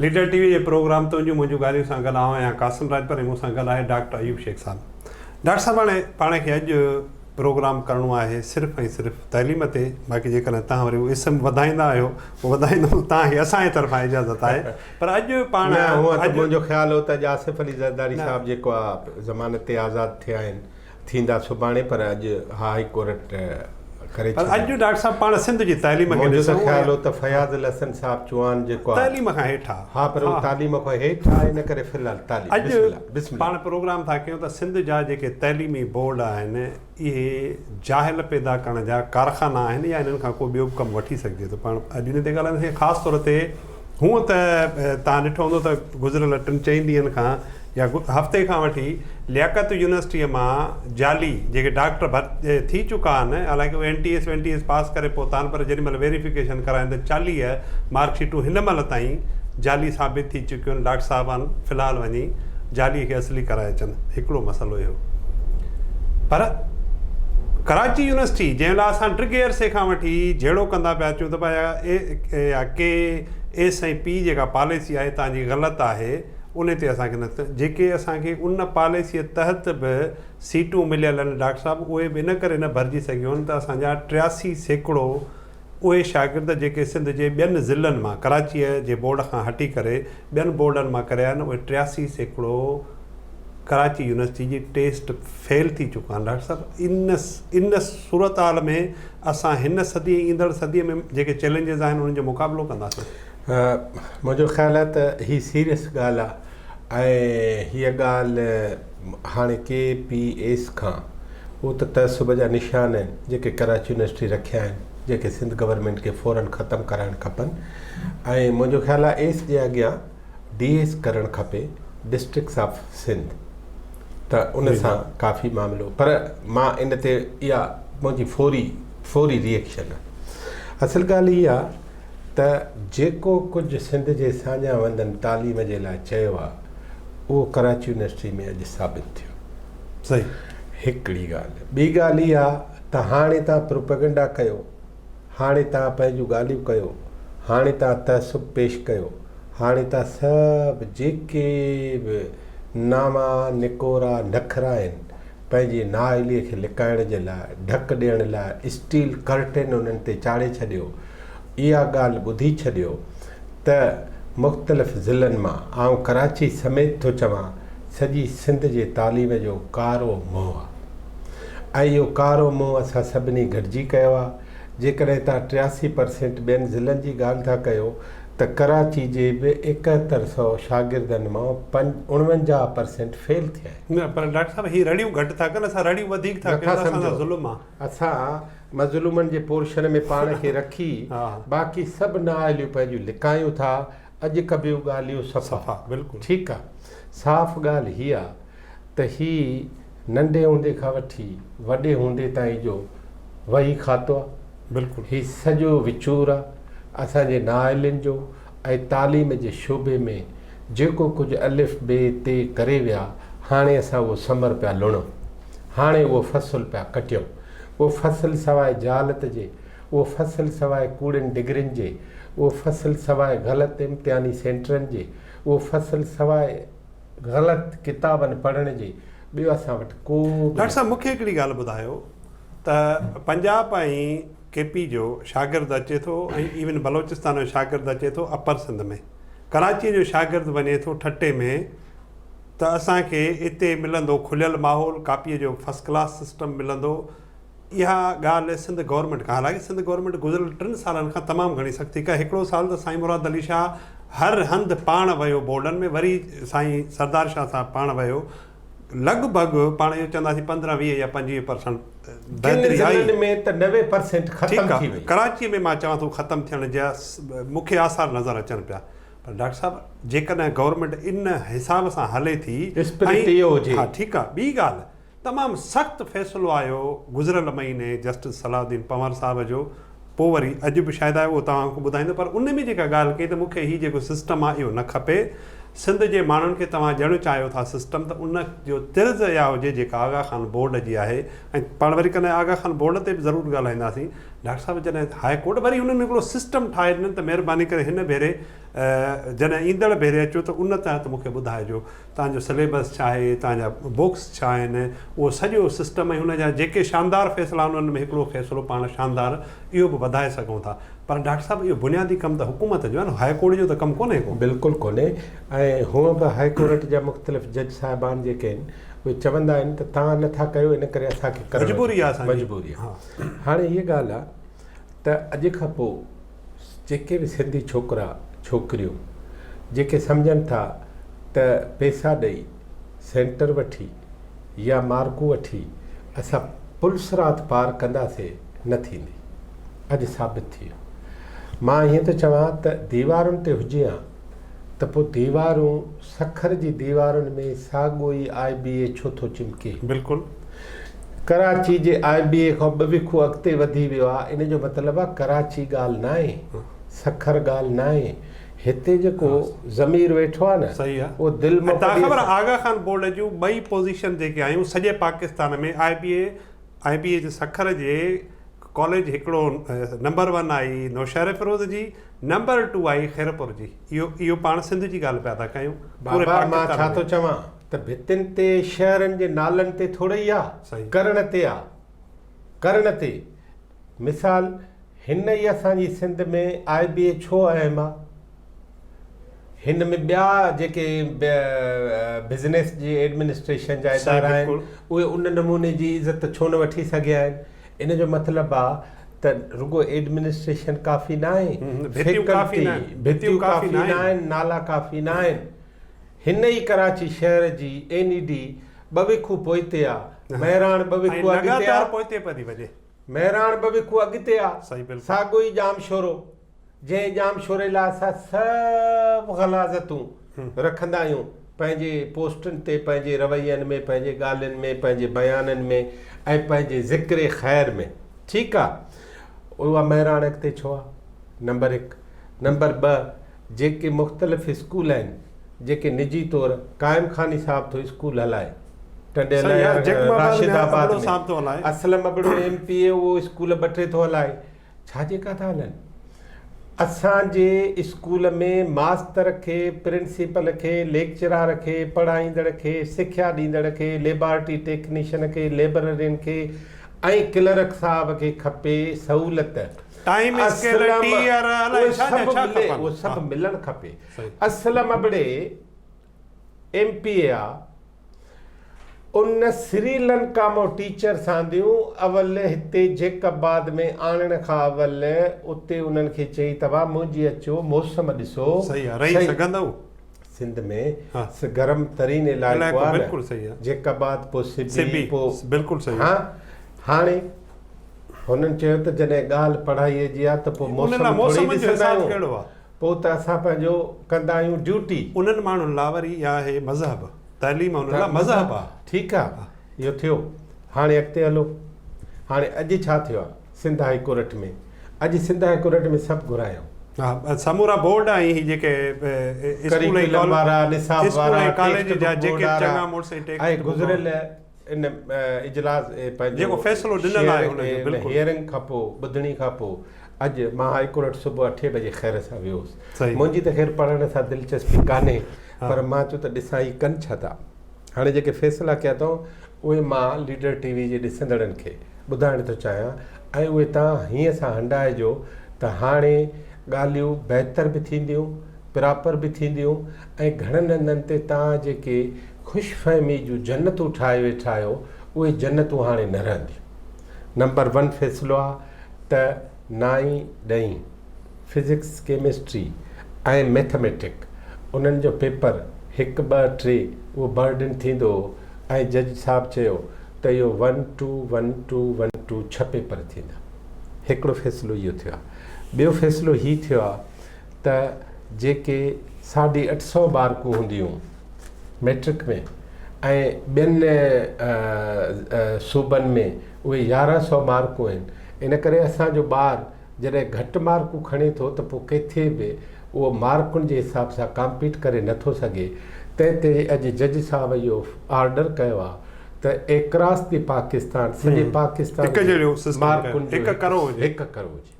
Leader T V جي program تنهنجون منهنجون ڳالهيون سان گڏ آئون آهيان قاسم راڄپر ۽ مون سان گڏ آهي ڊاڪٽر ايوب شيخ صاحب. ڊاڪٽر صاحب هاڻي پاڻ کي اڄ پروگرام ڪرڻو آهي صرف ۽ صرف تعليم تي باقي جيڪڏهن توهان وري اهو اسم وڌائيندا آهيو پوء وڌائيندوم توهان کي اسان جي طرفان اجازت آهي پر اڄ پاڻ نه هونئن ته منهنجو خيال هو ته اڄ آصف علي زرداري صاحب جيڪو آهي ضمانت تي آزاد ٿيا آهن ٿيندا سڀاڻي پر اڄ ھاء ڪورٽ ڪري ڇڏيو. اڄ جو ڊاڪٽر صاحب پاڻ سنڌ جي تعليم کي ڏسون. منهنجو ته خيال هو ته فياض الحسن صاحب چوهان جيڪو آهي. تعليم کان هيٺ آهي. ها پر هو تعليم کان هيٺ آهي ان ڪري في الحال تعليم. اڄ پاڻ پروگرام ٿا ڪيون ته سنڌ جا جيڪي تعليمي بورڊ آهن اهي جاهل پيدا ڪرڻ جا ڪارخانا آهن يا انهن کان ڪو ٻيو به ڪم وٺي سگهجي ٿو پاڻ اڄ ان تي ڳالهائينداسين خاص طور تي هونء ته توهان ڏٺو هوندو ته گذريل ٽن چئن ڏينهن کان يا هفتي کان وٺي لياقت يونيورسٽيء مان جعلي جيڪي ڊاڪٽر ڀت ٿي چڪا آهن، حالانڪه اهي N T S N T S pass ڪري پهتا آهن پر جيڏي مهل ويريفڪيشن ڪراين ته چاليهه مارڪ شيٽون هن مهل تائين جعلي ثابت ٿي چڪيون آهن، ڊاڪٽر صاحبان في الحال وڃي جعلي کي اصلي ڪرائي اچن. هڪڙو مسئلو اهو پر ڪراچي يونيورسٽي جنهن لاء اسان ڊگهي عرصي کان وٺي جهيڙو ڪندا پيا اچون ته ڀايا اي يا ڪي ايس ۽ پي جيڪا پاليسي آهي تان جي غلط آهي انهي تي اسان کي نه ته جيڪي اسان کي ان پاليسي تحت به سيٽون مليل آهن ڊاڪٽر صاحب اهي به ان ڪري نه ڀرجي سگهيون آهن ته اسان جا ٽياسي سيڪڙو اهي شاگرد جيڪي سنڌ جي ٻين ضلعن مان ڪراچيء جي بورڊ کان هٽي ڪري ٻين بورڊن مان ڪريا آهن اهي ٽياسي سيڪڙو ڪراچي يونيورسٽي جي ٽيسٽ فيل ٿي چڪا آهن ڊاڪٽر صاحب ان ان صورتحال ۾ اسان هن صدي ۽ ايندڙ صدي ۾ جيڪي چئلينجز آهن انهن جو مقابلو ڪنداسين منهنجو خيال آهي ته هي سيريس ڳالهه آهي ۽ هيء ڳالهه هاڻي ڪي پي ايس کان اهو ته تعصب جا نشان آهن جيڪي ڪراچي يونيورسٽي رکيا آهن جيڪي سنڌ گورنمينٽ کي فورن ختم ڪرائڻ کپن ۽ منهنجو خيال آهي ايس جي اڳيان ڊي ايس ڪرڻ کپي ڊسٽرڪس آف سنڌ ته ان سان ڪافي معاملو پر مان ان تي اها منهنجي فوري فوري ريئيڪشن اصل ڳالهه اها ته جيڪو ڪجهه سنڌ جي ساڃا وندن تعليم جي لاء چيو آهي اهو ڪراچي يونيورسٽي ۾ اڄ ثابت ٿيو صحيح هڪڙي ڳالهه ٻي ڳالهه اها ته هاڻي تان پروپيگنڊا ڪيو هاڻي توهان پنهنجون ڳالهيون ڪيو، هاڻي توهان تعصب پيش ڪيو، هاڻي توهان سڀ جيڪي به ناما نڪورا نخرا آهن، پنهنجي نااهليء کي لڪائڻ جي لاء، ڍڪ ڏيڻ لاء اسٽيل ڪرٽين انهن تي چاڙهي ڇڏيو. اها ڳالهه ٻڌي ڇڏيو ته مختلف ضلعن مان، آئون ڪراچي سميت ٿو چوان، سڄي سنڌ جي تعليم جو ڪارو منهن ۽ اهو ڪارو منهن اسان سڀني گڏجي ڪيو آهي. جيڪڏهن توهان ٽياسي پرسينٽ ٻين ضلعن جي ڳالهه ٿا ڪيو ته ڪراچي جي به ايڪهتر سئو شاگردن مان پنج اڻونجاهه پرسينٽ فيل ٿيا آهن. نه پر ڊاڪٽر صاحب هي رڙيون گهٽ ٿا ڪن اسان رڙيون وڌيڪ ٿا ڪيون اسان سان ظلم آهي. اسان مظلومن جي پورشن ۾ پاڻ کي رکي باقي سڀ نااهليون پنهنجون لڪايون ٿا اڄ ڪبيون ڳالهيون صفا. ٺيڪ آهي صاف ڳالهه هي آهي ته هي ننڍي هوندي کان وٺي وڏي هوندي تائين جو وهي کاتو آ. بلڪل. هي سڄو وچور آ اسان جي نااهلين جو ۽ تعليم جي شعبي ۾ جيڪو ڪجهه الف بي ت ڪري ويا هاڻي اسان اهو ثمر پيا لڻو هاڻي اهو فصل پيا ڪٽيون اهو فصل سواء جهالت جي اهو فصل سواء ڪوڙين ڊگرين جي اهو فصل سواء غلط امتحاني سينٽرن جي اهو فصل سواء غلط ڪتابن پڙهڻ جي ٻيو اسان وٽ ڪو به. ڊاڪٽر صاحب مونکي هڪڙي ڳالهه ٻڌايو ته پنجاب ۽ ڪي پي جو شاگرد اچي ٿو ۽ ايون بلوچستان جو شاگرد اچي ٿو اپر سنڌ ۾ ڪراچي جو شاگرد وڃي ٿو ٺٽي ۾ ته اسان کي اتي ملندو کليل ماحول ڪاپي جو فسڪلاس سسٽم ملندو اها ڳالهه سنڌ گورنمينٽ کان حالانڪه سنڌ گورنمينٽ گذريل ٽن سالن کان تمام گهڻي سختي ڪئي هڪڙو سال ته سائين مراد علي شاهه هر هنڌ پاڻ ويو بورڊن ۾ وري سائين سردار شاهه صاحب پاڻ ويو لڳ ڀڳ پاڻ اهو چونداسين پندرهن ويهه يا پنجويهه پرسنٽ ڪن ضلعن ۾ ته نوي پرسنٽ ختم ٿي وئي ڪراچي ۾ مان چوان ٿو ختم ٿيڻ جا مون کي آثار نظر اچن پيا پر ڊاڪٽر صاحب جيڪڏهن گورنمينٽ ان حساب سان هلي ٿي اسپرٽ اهو هجي ها ٺيڪ آهي ٻي ڳالهه تمام سخت فيصلو آيو گذريل مهيني جسٽس صلاح الدين پنهور صاحب جو پوء وري اڄ به شايد آيو اهو توهان کي ٻڌائيندو پر ان ۾ جيڪا ڳالهه ڪئي ته مون کي هي جيڪو سسٽم آهي اهو نه کپي سنڌ جي ماڻهن کي توهان ڄڻ چاهيو ٿا سسٽم ته ان جو طرز اها هجي جيڪا آغا خان بورڊ جي آهي ۽ پاڻ وري ڪڏهن آغا خان بورڊ تي به ضرور ڳالهائينداسين ڊاڪٽر صاحب جڏهن هاء ڪورٽ وري انهن هڪڙو سسٽم ٺاهي ڏنن ته مهرباني ڪري هن ڀيري جڏهن ايندڙ ڀيري اچو ته ان تحت مون کي ٻڌائجو توهان جو سليبس ڇا آهي، توهان جا بوڪس ڇا آهن، اهو سڄو سسٽم ۽ ان جا جيڪي شاندار فيصلا آهن انهن ۾ هڪڙو فيصلو پاڻ شاندار اهو به وڌائي سگهون ٿا پر ڊاڪٽر صاحب اهو بنيادي ڪم ته حڪومت جو آهي نه هاء ڪورٽ جو ته ڪم ڪونهي ڪو. بلڪل ڪونهي ۽ هونء به هاء ڪورٽ جا مختلف جج صاحبان جيڪي آهن اهي چوندا آهن ته توهان نه ٿا ڪيو ان ڪري اسان کي ڪرڻو مجبوري آهي اسان جي مجبوري آهي هاڻي هيء ڳالهه آهي ته اڄ کان پوء جيڪي به سنڌي ڇوڪرا ڇوڪريون جيڪي سمجهن ٿا ته پئسا ڏئي سينٽر وٺي يا مارڪون وٺي اسان پل صراط پار ڪنداسي نه ٿيندي اڄ ثابت ٿي ويو مان ائين ٿو چوان ته ديوارن تي هجي ها ته پوء ديوارون سکر جي ديوارن ۾ ساڳيو ئي آء بي اي ڇو ٿو چمڪي؟ بلڪل. ڪراچي جي آء بي اي کان ٻه ويکون اڳتي وڌي ويو آهي ان جو مطلب آهي ڪراچي ڳالهه ناهي سکر ڳالهه ناهي هتي جيڪو ضمير ويٺو آهي نه صحيح آهي اهو دل مان توهان کي خبر آهي آغا خان بورڊ جون ٻئي پوزيشن جيڪي آيون سڄي Pakistan ۾ I B A I B A جي سکر جي ڪاليج هڪڙو نمبر ون آهي نوشهريفروز جي نمبر ٽو آهي خيرپور جي اهو اهو پاڻ سنڌ جي ڳالهه پيا ٿا ڪيون پوري بابا مان پاڪستان ڇا ٿو ۾ چوان ته ڀتين تي شهرن جي نالن تي ٿورئي آ صحيح. ڪرڻ تي آ ڪرڻ تي مثال هن ئي اسان جي سنڌ ۾ آء بي اي ڇو اهم آ هن ۾ ٻيا جيڪي بزنس جي ايڊمنسٽريشن جا ادارا آهن اهي ان نموني جي عزت ڇو نه وٺي سگهيا آهن ان جو مطلب آهي ته رڳو ايڊمنسٽريشن ڪافي نه آهي ڀتيون ڪافي نه آهن نالا ڪافي نه آهن هن ئي ڪراچي شهر جي اين اي ڊي ٻه ويکو پوئتي آهي مهراڻ ٻه ويکو اڳتي آهي مهراڻ ٻه ويکو اڳتي آهي ساڳو ئي ڄام شورو جنهن ڄام شوري لاء اسان سڀ غلاظتون رکندا آهيون پنهنجي پوسٽن تي پنهنجي روين ۾ پنهنجي ڳالهين ۾ پنهنجي بيانن ۾ ۽ پنهنجي ذڪر خير ۾ ٺيڪ آ اها مهراڻڪ تي ڇو آ نمبر هڪ نمبر ٻه جيڪي مختلف اسڪول آهن جيڪي نجي طور قائم خاني صاحب ٿو اسڪول هلائي ٽنڊي هلائي Rashidabad ۾ Aslam Abro M P A اهو اسڪول ٻه ٽي ٿو هلائي ڇا جيڪا ٿا هلن. اسان جي اسڪول ۾ ماستر کي، پرنسپل کي، ليڪچرار کي، پڙهائيندڙ کي، سکيا ڏيندڙ کي، ليبارٽري ٽيڪنيشن کي، ليبررين کي ۽ ڪلرڪ صاحب کي کپي سهولت. ٽائيم اسڪيل، ٽي اير، الائي ڇا جا ڇا کپن. اهي سڀ ملڻ کپي. اسلم ابڙي. ايم پي اي آ ان سري لنڪا مون ٽيچر سانديون اول هتي جيڪب آباد ۾ آڻڻ کان اول اتي انهن کي چئي توهان منهنجي اچو موسم ڏسو صحيح آ رهي سگهندؤ سنڌ ۾ گرم ترين علائقو آ بلڪل صحيح آ جيڪب آباد پو سبي پو بلڪل صحيح آ هاڻي هنن چيو ته جڏهن ڳالهه پڙهائي جي آ ته پو موسم ٿوري ڏسندا آهيون پوء ته اسان پنهنجو ڪندا آهيون ڊيوٽي. انهن ماڻهن لا وري اها آهي مذهب. تعليم انهن لا مذهب آ. ٺيڪ آ اهو ٿيو هاڻي اڳتي هلو هاڻي اڄ ڇا ٿيو آ سنڌ هائي ڪورٽ ۾ اڄ سنڌ هائي ڪورٽ ۾ سڀ گهرايائون. ها سمورا بورڊ ۽ هي جيڪي اسڪول ۽ ڪريڪولم وارا نصاب وارا ٽيڪسٽ بڪ بورڊ وارا ۽ گذريل ان اجلاس ۾ پنهنجو فيصلو ڏنل آهي ان جو بلڪل هيئرنگ کان پوء ٻڌڻي کان پوء اڄ مان هاء ڪورٽ صبح اٺين بجي خير سان ويو هوس منهنجي ته خير پڙهڻ سان دلچسپي ڪانهي پر مان چيو ته ڏسان هي ڪن ڇا ٿا هاڻي جيڪي فيصلا ڪيا اٿئون اهي مان ليڊر ٽي وي جي ڏسندڙن کي ٻڌائڻ ٿو چاهيان ۽ اهي توهان هيئن سان هنڊائجو ته هاڻي ڳالهيون بهتر به ٿينديون پراپر به ٿينديون ۽ گهڻن هنڌن تي توهان جيڪي خوش فهمي جون جنتون ٺاهي ويٺا آهيو اهي جنتون هاڻي نه رهنديون. نمبر ون فيصلو آ ته نائين ڏهين، فزڪس، ڪيمسٽري ۽ ميٿميٽڪ، انهن جو پيپر هڪ ٻه ٽي اهو برڊن ٿيندو هو ۽ جج صاحب چيو ته اهو one two one two one two ڇهه پيپر ٿيندا. هڪڙو فيصلو اهو ٿيو آ. ٻيو فيصلو هي ٿيو آ ته جيڪي ساڍي اٺ سؤ مارڪون هونديون ميٽرڪ ۾ ۽ ٻين صوبن ۾ اهي يارهن سؤ مارڪون آهن ان ڪري اسان جو ٻار جڏهن گهٽ مارڪون کڻي ٿو ته پوء ڪٿي به اهو مارڪن جي حساب سان ڪامپيٽ ڪري نه ٿو سگهي تنهن تي اڄ جج صاحب اهو آرڊر ڪيو آهي ته ايڪراس دي پاڪستان سڄي پاڪستان ۾ مارڪن جو هڪ ڪرو هجي.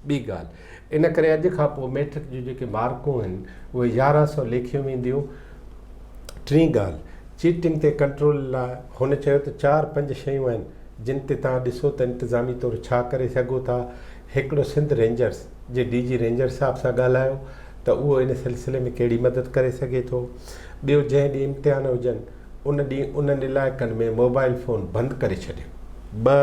ٻي ڳالهه ان ڪري اڄ کان پوء ميٽرڪ جون جيڪي مارڪون آهن اهي يارهن سئو ليکيون وينديون. ٽين ڳالهه چيٽنگ تي ڪنٽرول لاء هن چيو ته چار پنج شيون آهن جن تي توهان ڏسو ته انتظامي طور ڇا ڪري سگهو ٿا هڪڙو سنڌ رينجرز جي ڊي جي رينجر صاحب سان ڳالهايو ته اهو ان سلسلي ۾ ڪهڙي مدد ڪري سگهي ٿو ٻيو جنهن ڏينهن امتحان هجن ان ڏينهن انهن علائقن ۾ موبائل فون بند ڪري ڇڏين ٻه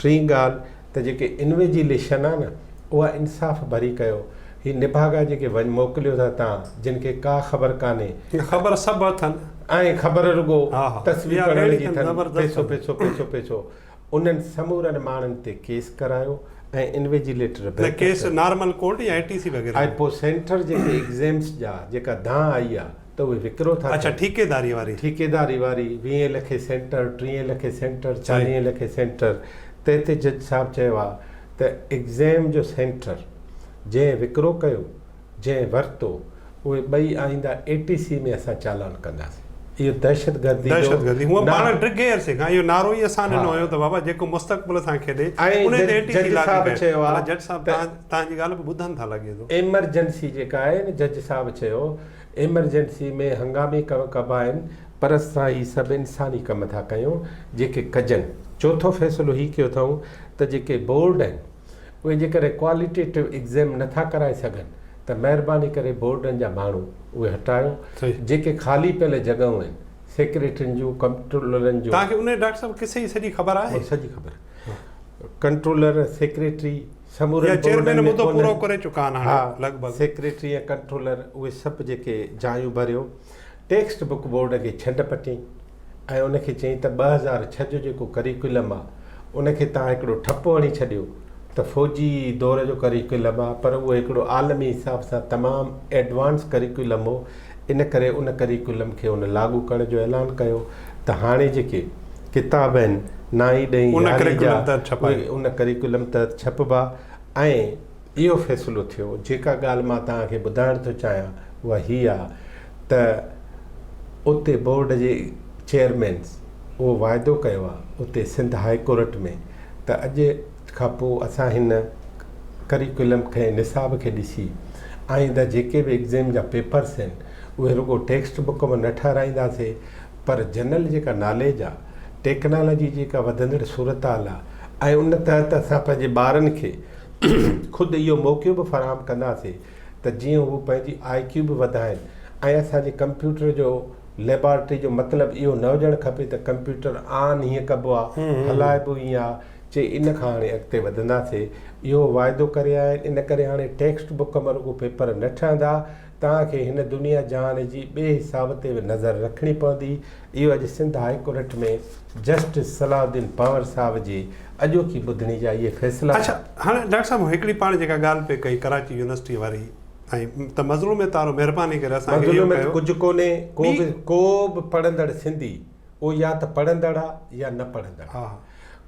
ٽين ڳالهه ته جيڪي انويجيليشن آ نه اها انصاف ڀري ڪيو هي نڀاڳا جيڪي وڃ موڪليو ٿا تان جن کي ڪا خبر ڪانهي ۽ خبر سڀ اٿن ۽ خبر رڳو تصوير پڙهڻ جي اٿن پيسو پيسو پيسو پيسو انهن سمورن ماڻهن تي ڪيس ڪرايو ۽ انويجيليٽر نه ڪيس نارمل ڪورٽ يا اي ٽي سي وغيره آء پو سينٽر جيڪي ايگزيمس جا جيڪا دانهن آئي آ ته اهي وڪرو ٿا اڇا ٿين. ٺيڪيداري واري. ٺيڪيداري واري، ويهين لکين سينٽر، ٽيهين لکين سينٽر، صحيح. چاليهين لکين سينٽر، تنهن تي جج صاحب چيو آ ته ايگزيم جو سينٽر جنهن وڪرو ڪيو، جنهن ورتو، اهي ٻئي آئينده اي ٽي سي ۾ اسان چالان ڪنداسين. اهو دهشت گردي جو دهشت گردي، هونء پاڻ نعرو. ڊگهي عرصي کان اهو نعرو ئي اسان ڏنو ها. هيو ته بابا جيڪو مستقبل سان کيڏي، ۽ انهي تي اي ٽي سي جج لاڳو صاحب ڪيو. چيو آ مطلب جج صاحب ته. تنهن تنهنجي ڳالهه به ٻڌن ٿا لڳي ٿو. ايمرجنسي جيڪا آهي نه جج صاحب چيو. ايمرجنسي ۾ هنگامي ڪم ڪبا آهن پر اسان هي سڀ انساني ڪم ٿا ڪيون جيڪي ڪجن. چوٿون فيصلو هي ڪيو اٿئون ته جيڪي بورڊ آهن اهي جيڪڏهن ڪواليٽيٽو ايگزيم نه ٿا ڪرائي سگهن ته مهرباني ڪري بورڊن جا ماڻهو اهي هٽايو جيڪي خالي پيل جڳهون آهن سيڪريٽرين جون ڪمپٽرولرن جون. توهان کي انهي ڊاڪٽر صاحب قصي جي سڄي خبر آهي؟ سڄي خبر ڪنٽرولر سيڪريٽري. سمورن بورڊن ۾ ڪونهن ها سيڪريٽري ۽ ڪنٽرولر اهي سڀ جيڪي جايون ڀريو ٽيڪسٽ بڪ بورڊ کي ڇنڊ پٽين ۽ ان کي چئين ته ٻه هزار ڇهه جو جيڪو ڪريڪولم آ ان کي توهان هڪڙو ٺپ هڻي ڇڏيو ته فوجي دور جو ڪريڪولم آ پر اهو هڪڙو عالمي حساب سان تمام ايڊوانس ڪريڪولم هو ان ڪري ان ڪريڪولم کي هن لاڳو ڪرڻ جو اعلان ڪيو ته هاڻي جيڪي ڪتاب آهن نائين ڏهين ان يارهين جا ڪريڪولم تحت ڇپائي. اهي ان ڪريڪولم تحت ڇپبا ۽ اهو فيصلو ٿيو جيڪا ڳالهه مان توهان کي ٻڌائڻ ٿو چاهيان اها هي آ ته اتي بورڊ جي چيئرمين اهو واعدو ڪيو آ اتي سنڌ هاء ڪورٽ ۾ ته اڄ کان پوء اسان هن ڪريڪولم کي نصاب کي ڏسي آئنده جيڪي به ايگزيم جا پيپرس آهن اهي رڳو ٽيڪسٽ بڪ مان نه ٺهرائينداسي پر جنرل جيڪا ناليج آ ٽيڪنالاجي جيڪا وڌندڙ صورتحال آ ۽ ان تحت اسان پنهنجي ٻارن کي خود اهو موقعو به فراهم ڪنداسي ته جيئن هو پنهنجي آء ڪيو به وڌائن ۽ اسان جي ڪمپيوٽر جو ليبارٽري جو مطلب اهو نه هجڻ کپي ته ڪمپيوٽر آن هيئن ڪبو آ هلائبو هيئن آ چي ان کان هاڻي اڳتي وڌنداسي اهو واعدو ڪري آيا آهن ان ڪري هاڻي ٽيڪسٽ بڪ مان رڳو پيپر نه ٺهندا توهان کي هن دنيا جهان جي ٻئي حساب تي به نظر رکڻي پوندي اهو اڄ Sindh high court ۾ justice Salahuddin Panhwar صاحب جي اڄوڪي ٻڌڻي جا اهي فيصلا اڇا هاڻي ڊاڪٽر صاحب هڪڙي پاڻ جيڪا ڳالهه پئي ڪئي ڪراچي يونيورسٽي واري ۽ ته مظلوم تارو مهرباني ڪري اسان کي اهو ڪجهه ڪونهي ڪو به ڪو به پڙهندڙ سنڌي او يا ته پڙهندڙ آ يا نه پڙهندڙ آ.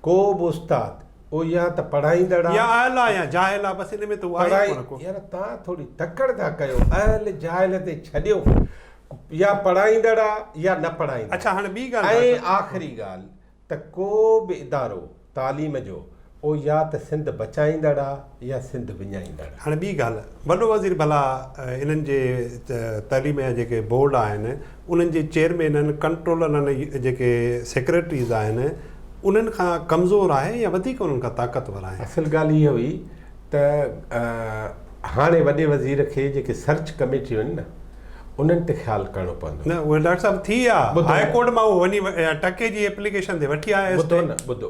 ڪو به استاد او يا ته پڙهائيندڙ آ. يا اهل آ يا جاهل آ بس ان ۾ ته هو آهي ئي ڪونه ڪو. يار توهان ٿوري تڪڙ ٿا ڪيو اهل جاهل تي ڇڏيو يا پڙهائيندڙ آ يا نه پڙهائيندڙ. اڇا هاڻي ٻي ڳالهه ٻڌ. ۽ آخري ڳالهه ته ڪو به ادارو. تعليم جو او يا ته سنڌ بچائيندڙ آ يا سنڌ وڃائيندڙ. هاڻي ٻي ڳالهه وڏو وزير ڀلا انهن جي تعليم جا جيڪي بورڊ آهن انهن جي چيئرمينن ڪنٽرولرن جيڪي سيڪريٽريز آهن انهن کان ڪمزور آهي يا وڌيڪ انهن کان طاقتور آهن. اصل ڳالهه هيء هئي ته هاڻي وڏي وزير کي جيڪي سرچ ڪميٽيون آهن نه انهن تي خيال ڪرڻو پوندو. نه اهي ڊاڪٽر صاحب ٿي ويا هاء ڪورٽ مان هو وڃي ٽڪي جي اپليڪيشن تي وٺي آيا ٻڌو نه ٻڌو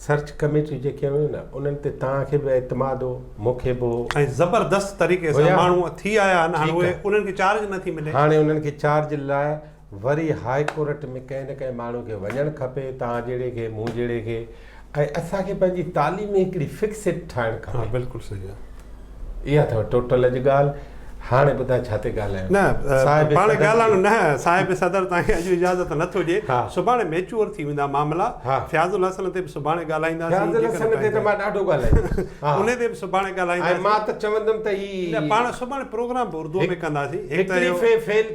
سرچ ڪميٽي جيڪي هيون نه انهن تي توهان کي به اعتماد هو مون کي به هو ۽ زبردست طريقي سان ماڻهو ٿي آيا آهن هاڻي اهي انهن کي چارج نه ٿي ملي هاڻي انهن کي چارج لاء وري هاء ڪورٽ ۾ ڪنهن نه ڪنهن ماڻهو کي وڃڻ کپي توهان جهڙي کي مون جهڙي کي ۽ اسان کي پنهنجي تعليم ۾ هڪڙي فڪسٽ ٺاهڻ کپي ها بلڪل صحيح آهي اها اٿو ٽوٽل اڄ ڳالهه هاڻي ٻڌاء ڇا تي ڳالهايون نه صاحب پاڻ ڳالهايون نه صاحب صدر تان کي اڄ اجازت نه ٿو ڏي سڀاڻي ميچور ٿي ويندا معاملا فياض الحسن تي به سڀاڻي ڳالهائيندا فياض الحسن تي ته مان ڏاڍو ڳالهايو ان تي به سڀاڻي ڳالهايندا مان ته چوندم ته هي پاڻ سڀاڻي پروگرام به اردو ۾ ڪنداسين هڪ ته فيل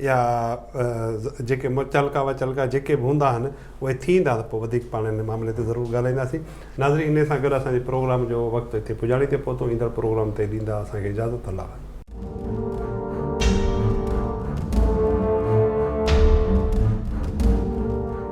يا جيڪي متعلقه وتعلقه جيڪي به هوندا آهن اهي ٿيندا ته پوء وڌيڪ پاڻ ان معاملي تي ضرور ڳالهائينداسين ناظرين انهي سان گڏ اسان جي پروگرام جو وقت اتي پڄاڻي تي پهتو ايندڙ پروگرام تي ڏيندا اسان کي اجازت الله